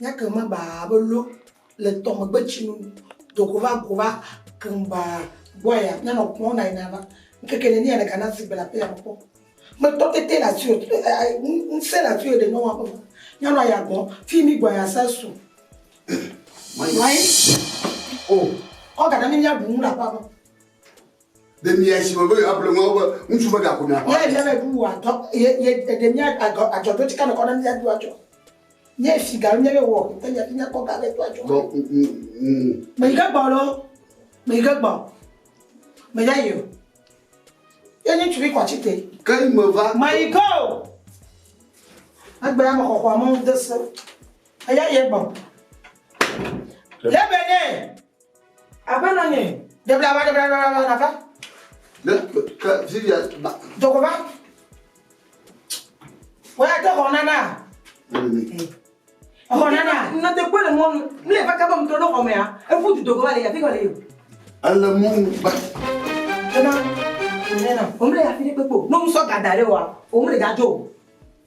Nyake ma baa be lo le tɔ megbe tsi nu do go va go va keŋ baa gbɔ ya nya nɔ kpɔn na yina va ŋkeke ne nia ɖeka na si gbe la pe ya kpɔ me tɔ tete la si ŋse la si ɖe nɔwa ƒe nya nɔ ya gbɔ fi mi gbɔ ya sa su me nɔ anyi o kɔ gaɖe mi ya bu nu la ƒe Ɖe mia si me be yewoa ble ŋuawo be ŋutsu ve ga ko mia xɔ? Ye ɖe me bu wa dɔ ye ye ɖe mia agɔ agɔ do tika me kɔ na mia do adzɔ. Ye si ga mia be wɔ te ya mia kɔ ga be do adzɔ. Bɔ u u u. Me yi ke gbɔ lo. Me yi ke gbɔ. Me ya yo. Ye ni tuli kɔ chite. Ke yi me va. Ma yi go. Agbe ya mo kɔkɔ mo de se. Aya ye gbɔ. Lebe ne. Aƒe nɔ nye. Ɖebla va, ɖebla va, ɖebla va, va. Ne ke Vivian ba. Dɔgɔ va. Wọ́n yà dé xɔ nana. Xɔ nana. Nɔte kpɔ le mɔnu. Ne le baka bɔ mutɔ ne xɔ mea, efu du dɔgɔ va le yà fi kɔ le yò. Ele mɔnu ba. Ena, ena. Omle yà fi ɖe kpekpe o. N'omu sɔ gada ɖe wa, omle dza dzo o.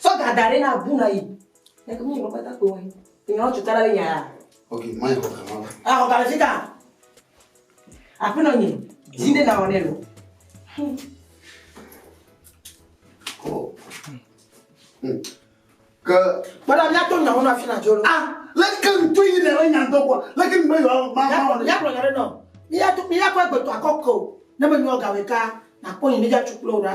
Tsɔ ga da ɖe na bu na yi. Ne ke mi yɔ bata ko yi. Ni yɔ tso tara le nya ya. Ok, ma yɔ ka ma. Ah, yɔ ka le fita. A pe no ni. Di de na wone lo. Oh. Hmm. Ke. Bala mi ato nya wona fina jo lo. Ah, le ke ntu yi le nya do ko. Le ke me yɔ ma ma wone. Ya ko nya no. Mi ya tu mi ya ko egbe to akoko. Ne me nyo ga we ka. Na ko ni mi ja chuklo ra.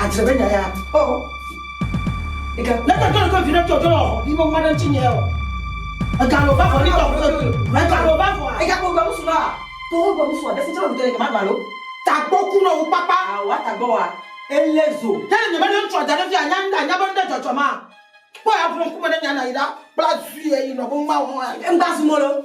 Adzebe nya ya. Oh. Ega, ne ka tɔle ko vina tɔtɔ lɔ, ni mo mwana tsi nye o. Ega lo ba fɔ ni tɔ ko. Ega lo ba fɔ. Ega ko gba musu la. Ko ho gba musu de fitro de ke ma gba lo. Ta gbo ku no papa. Ah, wa ta gbo wa. Elezo. Te ne me ne tɔ da ne fi anya nda nya ban de tɔtɔ ma. Ko ya bro ku me ne nya na ida. Bla zui e yi no bo ma ho. Em ba su mo lo.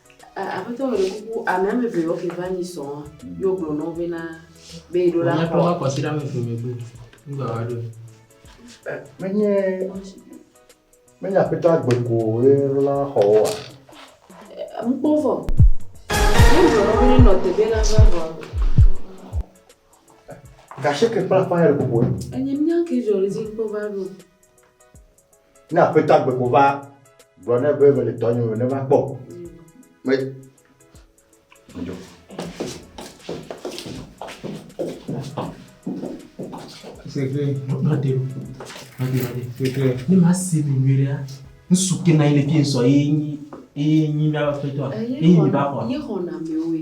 A, Aƒetɔ mele kuku ame ame eve yewo ke va nyi sɔ wa, ye wo gblɔ nɔwo be na be yi ɖo la kɔ. Wonyatrɔ va kɔ si ɖe ame eve me be nu gba va ɖo. Menye menye aƒetɔ agbe ko ye ɖo la xɔ wo wa. Ŋu kpɔ vɔ. Ne gblɔ nɔwo be ne nɔ te be la va vɔ. Gasheke kpla kpla ya le kuku. Enye mía ke jɔ le zi kpɔ va ɖo. Ne aƒetɔ agbe ko va gblɔ nɛ be mele dɔ nyim ne va kpɔ. Me dzo. Seke nɔde nɔde nɔde seke ne ma se mi nyuiɖe ŋsu ke na yi le fi ŋsɔ ye nyi ye nyi mi aƒetɔ ye nyi mi ba xɔ. Ye xɔ na mi oe.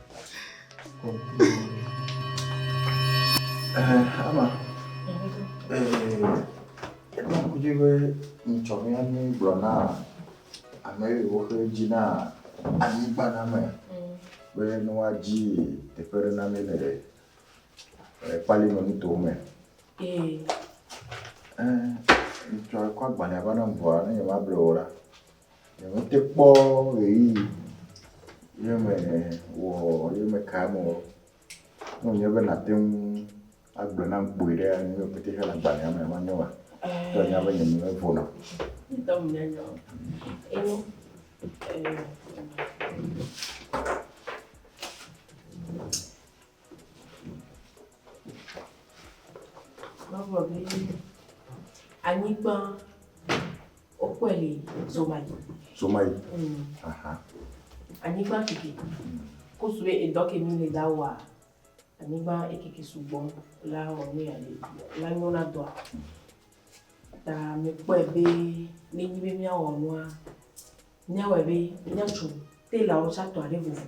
Ama, eɖo kudzi be ŋutsɔ mi ame gblɔ na ame yiwo ke dzi na anyigba na me be ne woadzi teƒe ɖe na mi le kpali me nuto me. Ŋutsɔ kɔ agbalẽ va na ŋua ne nyemable o la. Nyemete kpɔ ʋeyiʋi ye mewɔ ye meka eme o. Ne wònye be nàte ŋu agblɔ nam kpoe ɖe, nu yiwo katã le agbalẽa mea, manyo maa? Ke ènya be nye nu mevona o. Mavɔ be anyigba wokɔe le Zomayi. Zomayi. Mm. Aha. Anyigba keke. Kusue edɔ ke mi le da wa. Anyigba ekeke sugbɔ la wɔ nu ya le la nyo na dɔa. Ta mi kpɔe be ne nyi be miawɔ nua miawɔe be miatso telawo tsatɔ aɖe vovo.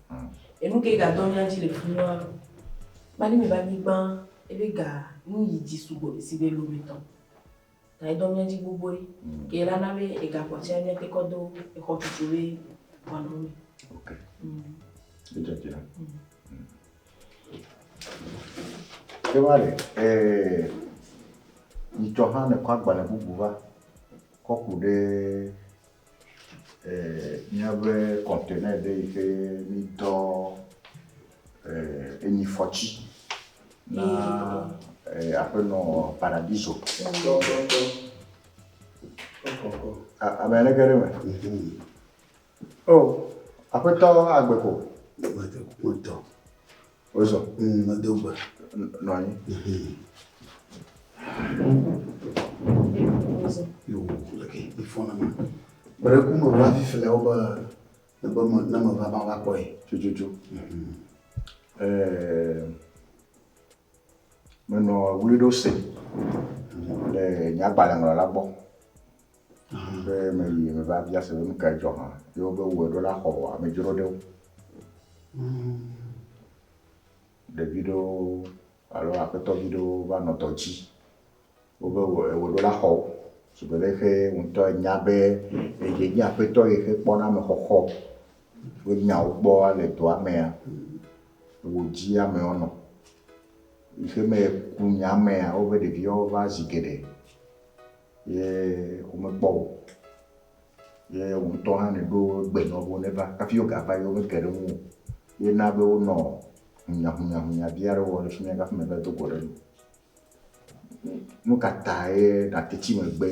Enu ke ga dɔ mía dzi le fi ma kpa ne mìva anyigba ebe ga nu yi dzi sugbɔ le sigbe lometɔ. Ta edɔ mía dzi gbogboe. Ke la na be ega kpɔ tsia mía te kɔ do exɔ tutu be xɔa nɔ me. Ok. Edze dzi na. Ke va le eh nyitsɔ hã ne kɔ agbalẽ bubu va kɔ ku ɖe. Míabe kɔntena ɖe yi ke mídɔ enyifɔti na Aƒenɔ Paradiso. Ame aɖe ge ɖe eme. O, Aƒetɔ agbe ko. Agbe ko. Wotɔ. Wozɔ. Mm, medo gbe. Nɔ anyi. Yo, leke ifɔna ma. Bere ku me va fifi le wobe ne be me ne me va va va kpɔe. Tututu. Eh, menɔ wuli ɖo se le nyagbalẽŋlɔla gbɔ. Be meyi meva bia se be nu kae dzɔ hã ye wobe wowɔe ɖo la xɔ amedzroɖewo. Ɖevi ɖewo alo aƒetɔvi ɖewo va nɔ dɔ dzi wobe ewɔe ɖo la xɔ wo. Shigbe leke xe ŋutɔ enya be ye nye aƒetɔ yi xe kpɔna ame xɔxɔ ƒe nyawo gbɔ le dɔa mea, wò dzi ame wonɔ. Yi xe me ku nya mea wobe ɖeviwo va zi geɖe. Ye womekpɔ o. Ye wò ŋutɔ hã nèɖo gbe nɔ wo be neva hafi wogava ye womeke ɖe ŋuwò o. Ye na be wonɔ hunyahunyahunyavia ɖe wɔm le fi mía hafi mèva do go ɖe eme o. Nu ka tae nàte tsi megbe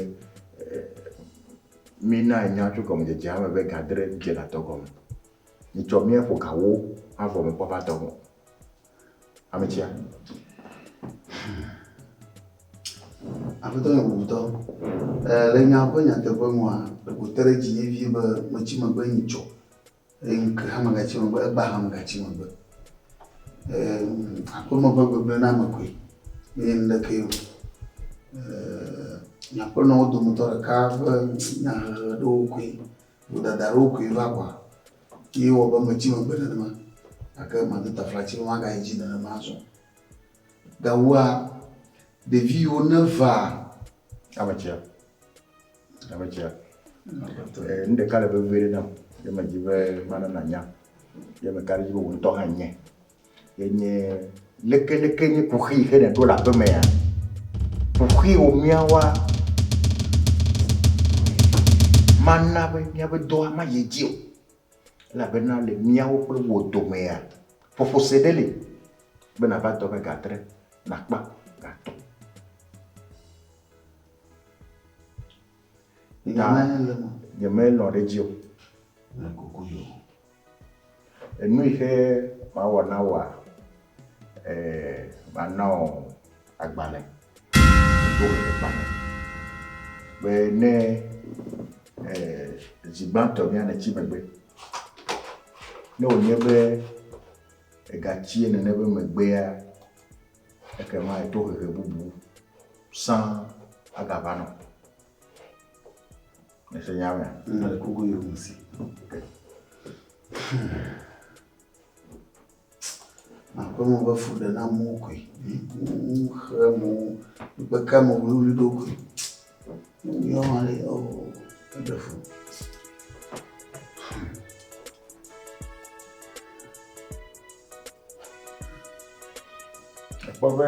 mínae nya tso gɔmedzedzea me be ga dre dze le adɔgɔme? Mitsɔ mía ƒo ga wo avɔ mekpɔ va adɔgɔme o. Ametsia. Aƒetɔ Nyɔbubutɔ, le nya ƒe nyateƒe nua, wòte ɖe dzi vevie be metsi megbe yi tsɔ, eye ŋke hã megatsi megbe, egbea hã megatsi megbe. Aƒeme ƒe gbegblẽ na ame koe, menye nuɖekee o. Nye aƒenɔwo dometɔ ɖeka ƒe nyahehe ɖewo koe. Vodada aɖewo koe va ʋɔa, ye ewɔ be metsi megbe nenema, gake mado taflatsi be magayi dzi nenema azɔ. Gawoa, ɖevi yiwo nevaa. Ametsia, ametsia, eh, nu ɖeka le vevi ɖe nam, ye medzi be mana nànya, ye meka ɖe edzi be wò ŋutɔ hã ènyae. Enye leke leke nye kuxi yi xe ne ɖo le aƒe mea? Kuxi wo mia wa mana be mia be dɔa ma ye dzi o. La be na le mia wo kple wo domea ƒoƒo se ɖe le be na va dɔ me ga tre na kpa ga tɔ. Nya ne le mo. Nye me lɔ ɖe dzi o. Le kuku yo. Enu yi ke mawɔ na wòa? Ɛɛ, mana wò agbalẽ, ŋutoʋeʋegbalẽ be ne zi gbãtɔ mía nètsi megbe. Ne wònye be ègatsie nene be megbea, ekema tohehe bubu sãa agava nɔ. Ese nya me. Nna le kuku yɔ mu si. Makpɔ mo be fu ɖe na mo koe. Xe mo kpe ka mo wuli ɖo koe. Yɔ ma le o eɖe fu. Ekpɔ be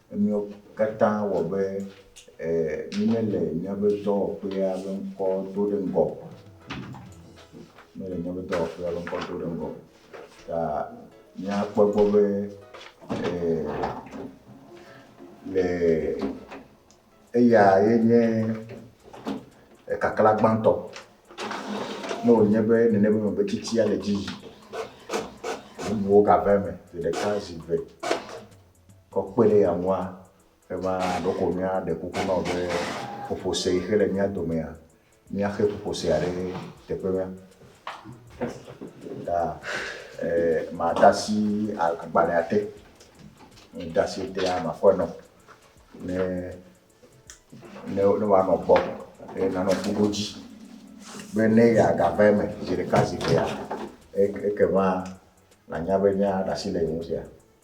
Emiawo katã wɔ be mímele míaƒe dɔwɔƒea ƒe ŋkɔ do ɖe ŋgɔ o. Mímele míaƒe dɔwɔƒea ƒe ŋkɔ do ɖe ŋgɔ o. Ta míakpɔ egbɔ be le eya ye nye ekaklã gbãtɔ. Ne wònye be nene be megbe tsitsia le edzi yim, bubuwo gava eme zi ɖeka, zi eve. Kɔ kpe ɖe eya ŋua, eva ɖeko míaɖe kuku na wò be ƒoƒose yi xe le mía domea, míaxe ƒoƒosea ɖe teƒe ma. Ta eh, made asi agbalẽa te. Ne mede asi etea, makɔe nɔ ne ne ne wòanɔ gbɔ eye nanɔ ŋku ɖo dzi be ne yeagava eme zi ɖeka zi evea, ekema nànya be míaɖe asi le ye ŋu sia.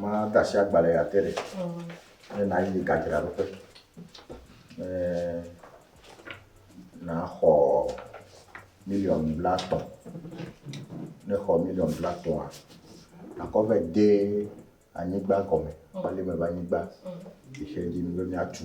Mada asi agbalẽ ya te ɖe. Ne nàyi gadzraɖoƒe. Ne nàxɔ miliɔn blatɔ̃. Ne xɔ miliɔn blatɔ̃a, nàkɔ vɛ de anyigba gɔme, balime ƒe anyigba. Xexeadzinu be míatu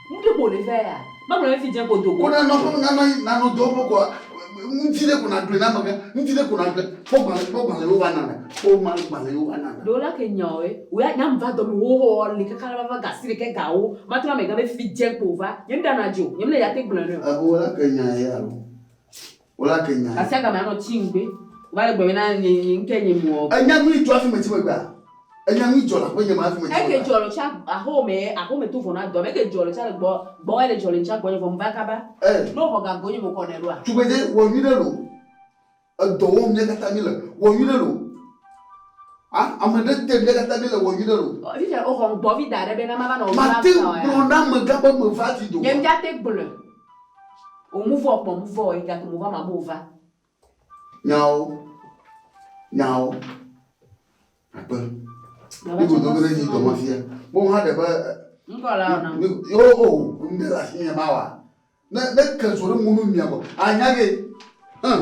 Ŋuɖe ko wòle vɛ ya? Magblɔ ɖe fi dze ko do go. Ko na nɔƒe me, nanɔ anyi, nanɔ do ƒe ko. Ŋdi ɖe ko naɖoe na amegã, ŋdi ɖe ko naɖoe. Kpɔ gbalẽ, kpɔ gbalẽ yewo va nana, kpɔ woma gbalẽ yewo va nana. Ɖewo la ke nya ɔe, wò ya nya ŋ va dɔme wo hɔ li kaka la va va ga si ɖekɛ ga wo ma trɔ amegã be fi dze ko wò va. Nye ŋ ɖana dzi o, nye ŋ le ya te gblɔe nɛ o. Eho la ke nya ye alo? Wola ke nya. Gasi agame anɔ tsi ŋgbe. Wova le gbe be na nye nye ŋke nye mɔ. Enya nyui dzɔ afi me tsi megbea? Enya nyui dzɔ le aƒe nye me afi me tsi megbea? Eke dzɔ le tsi aho me aho me to vɔ na dɔ me eke dzɔ le tsi ale gbɔ gbɔ ele dzɔ le ŋtsi agbɔ nye vɔ mva kaba. Eh. Ne oxɔ ga go nye mokɔ nɛ ɖoa? Tugbedze wɔ nyui ɖe lo. Edɔ wɔm mía kata mi le. Wɔ nyui ɖe lo. A ame ɖe te mía kata mi le wɔ nyui ɖe lo. Ɔ fifia oxɔ ŋgbɔ vi daɖe be na mava nɔ o. Mate ŋgblɔ na amegã be meva vi doa? Nye ŋdja te gblɔe. O muvɔ kpɔ muvɔ ɔ egato mo va ma bo va. Nyawo nyawo akpe. Mi go dogo ɖe dzi dɔmɔ fia. Mo ha ɖe be. Ŋkɔ la ɔ na. Yo o ŋde la si nye ma wa. Ne ne ke zo ɖe mu nu mia go. Anya ge. Hum.